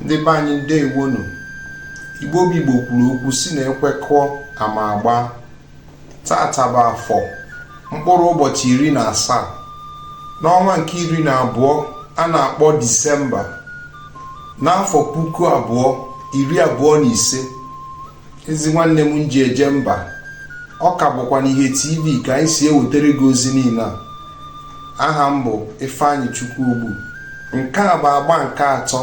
ndị be anyị ndewonu igbo bụ igbo kwuru okwu sị na ekwekọọ ama agba tata bụ afọ mkpụrụ ụbọchị iri na asaa n'ọnwa nke iri na abụọ a na-akpọ disemba n'afọ puku abụọ iri abụọ na ise ezi nwanne m nji eje mba ọ ka bụkwa n'ihe tv ka anyị si ewetara gị ozi niile a aha m bụ ifeanyịchukwu ogbu nke a bụ agba nke atọ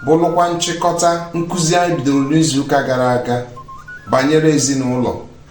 bụrụkwa nchịkọta nkụzi anyị bidoro n'izuụka gara aga banyere ezinụlọ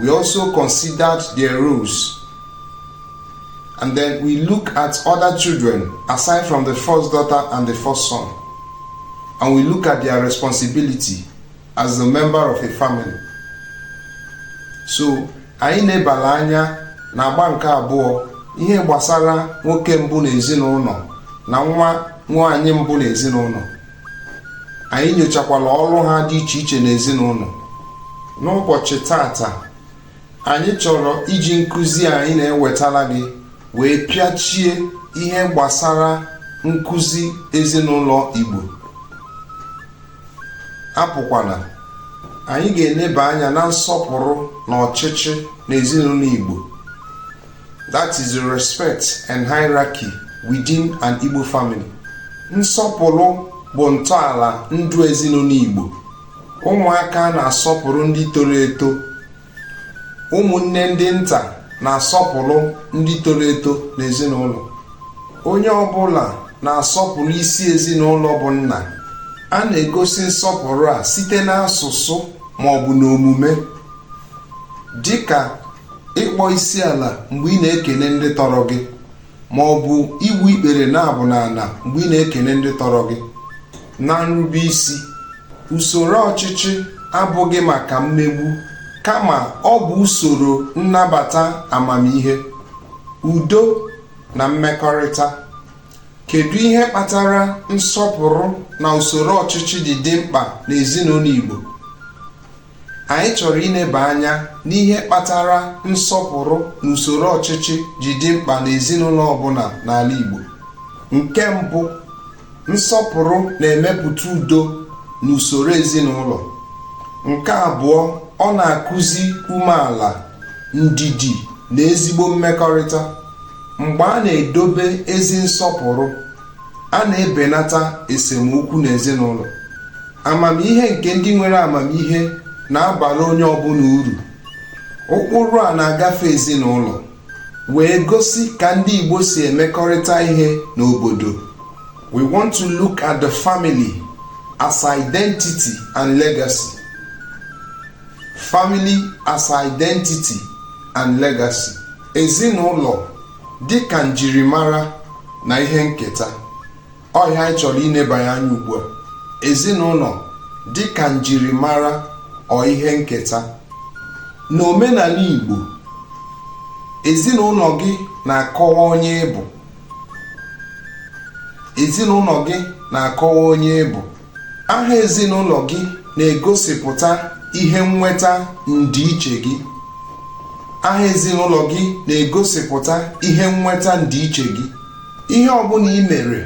We also considered their roles. And then we look at other children aside from the first daughter and the first son. And we look at their responsibility as a member of a family. So, anyị enebala anya n'agba nke abụọ ihe gbasara nwoke mbụ n'ezinụlọ na nwa nwaanyị mbụ n'ezinụlọ anyị nyochakwala ọrụ ha dị iche iche n'ezinụlọ n'ụbọchị tata anyị chọrọ iji nkụzi anyị na-ewetala gị wee pịachie ihe gbasara nkụzi ezinụlọ Igbo apụkwana anyị ga-eneba anya na nsọpụrụ na ọchịchị n'ezinụlọ Igbo That is the respect and hierarchy within an Igbo family. Nsọpụrụ bụ ntọala ndụ ezinụlọ Igbo. Ụmụaka na-asọpụrụ ndị toro eto. Ụmụnne ndị nta na-asọpụrụ ndị toro eto n'ezinụlọ. Onye ọbụla na-asọpụrụ isi ezinụlọ bụ nna. A na-egosi nsọpụrụ a site n'asụsụ ma ọ bụ n'omume dịka ịkpọ isi ala mgbe ị na-ekene ndị tọrọ gị ma ọ bụ igbu ikpere naabọ n'ala mgbe ị na-ekene ndị tọrọ gị na nrube isi usoro ọchịchị abụghị maka mmegbu kama ọ bụ usoro nnabata amamihe udo na mmekọrịta kedu ihe kpatara nsọpụrụ na usoro ọchịchị ji dị mkpa n'ezinụlọ Igbo anyị chọrọ ineba anya n'ihe kpatara nsọpụrụ na usoro ọchịchị ji dị mkpa n'ezinụlọ ọbụla n'ala Igbo nke mbụ nsọpụrụ na-emepụta udo na usoro ezinụlọ nke abụọ ọ na-akụzi umeala ndidi na ezigbo mmekọrịta mgbe a na-edobe ezi nsọpụrụ a na-ebenata esemokwu n'ezinụlọ amamihe nke ndị nwere amamihe na-abara onye ọbụla uru ụkpụrụ a na-agafe ezinụlọ wee gosi ka ndị Igbo si emekọrịta ihe n'obodo we want to look at the family as identity and legacy family as identity and legacy ezinụlọ dị ka njirimara na ihe nketa ọ ihe anyị chọrọ inebanye anya ugbu a ezinụlọ dị ka njirimara ọ ihe nketa n'omenala Igbo ezinụlọ gị na-akọwa onye ị bụ ezinụlọ gị na-akọwa onye ị bụ aha ezinụlọ gị na-egosipụta ihe nnweta ndị ichie gị aha ezinụlọ gị na-egosipụta ihe nnweta ndị ichie gị ihe ọbụla i mere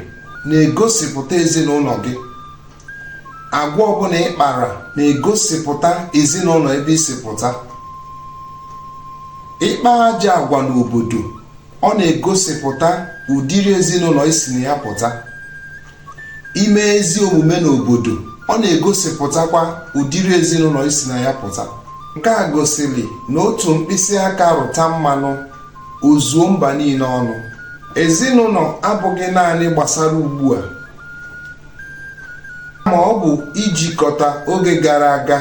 na-egosipụta ezinụlọ gị agwa ọbụla ị kpara na-egosipụta ezinụlọ ebe i si pụta ị kpaa ajọ agwa n'obodo ọ na-egosipụta ụdịrị ezinụlọ i si na ya pụta i mee ezi omume n'obodo ọ na-egosipụtakwa ụdịrị ezinụlọ i si na ya pụta nke a gosiri na otu mkpịsị aka rụta mmanụ o zuo mba niile ọnụ ezinụlọ abụghị naanị gbasara ugbu a ma ọ bụ ijikọta oge gara aga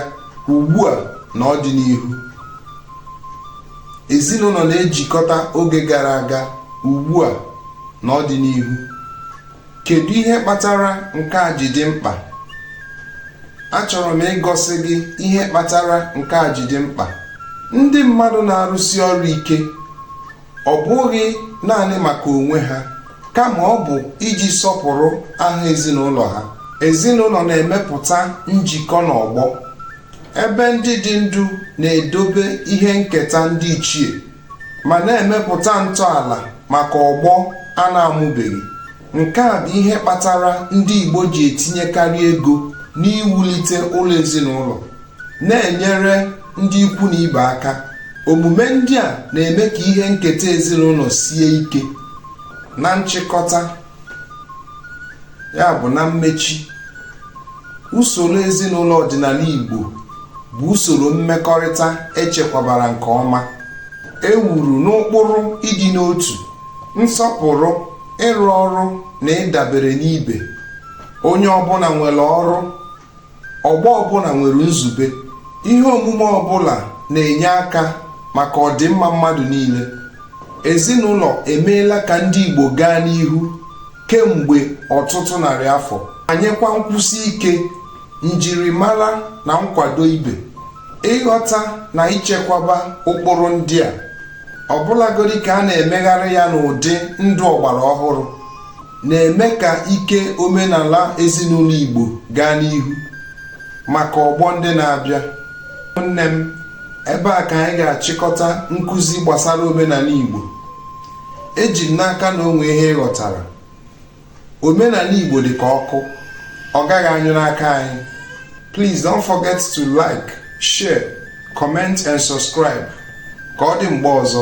ugbu a na ọdịnihu ezinụlọ na-ejikọta oge gara aga ugbu a na ọdịnihu kedu ihe kpatara nke a ji dị mkpa achọrọ m igosi gị ihe kpatara nke a ji dị mkpa ndị mmadụ na-arụsi ọrụ ike ọ bụghị naanị maka onwe ha kama ọ bụ iji sọpụrụ aha ezinụlọ ha ezinụlọ na-emepụta njikọ n'ọgbọ ebe ndị dị ndụ na-edobe ihe nketa ndị ichie ma na-emepụta ntọala maka ọgbọ a na-amụbeghị nke a bụ ihe kpatara ndị Igbo ji etinyekarị ego n'iwulite ụlọ ezinụlọ na-enyere ndị ikwu na ibe aka omume ndị a na-eme ka ihe nketa ezinụlọ sie ike na nchịkọta ya bụ na mmechi usoro ezinụlọ ọdịnala Igbo bụ usoro mmekọrịta e chekwabara nke ọma e wuru n'ụkpụrụ ịdị n'otu nsọpụrụ ịrụ ọrụ na ịdabere n'ibe onye ọbụla nwere ọrụ ọgbọ ọbụla nwere nzube ihe omume ọbụla na-enye aka maka ọdịmma mmadụ niile ezinụlọ emeela ka ndị Igbo gaa n'ihu kemgbe ọtụtụ narị afọ enyekwa nkwụsi ike njirimara na nkwado ibe ịghọta na ichekwaba ụkpụrụ ndị a ọbụlagodi ka a na-emegharị ya n'ụdị ndụ ọgbara ọhụrụ na-eme ka ike omenala ezinụlọ Igbo gaa n'ihu maka ọgbọ ndị na-abịa nne m ebe a ka anyị ga-achịkọta nkụzi gbasara omenala Igbo eji m n'aka na o nwe ihe ị ghọtara omenala Igbo dị ka ọkụ ọ gaghị anyụ n'aka anyị please don't forget to like share comment and subscribe ka ọ dị mgbe ọzọ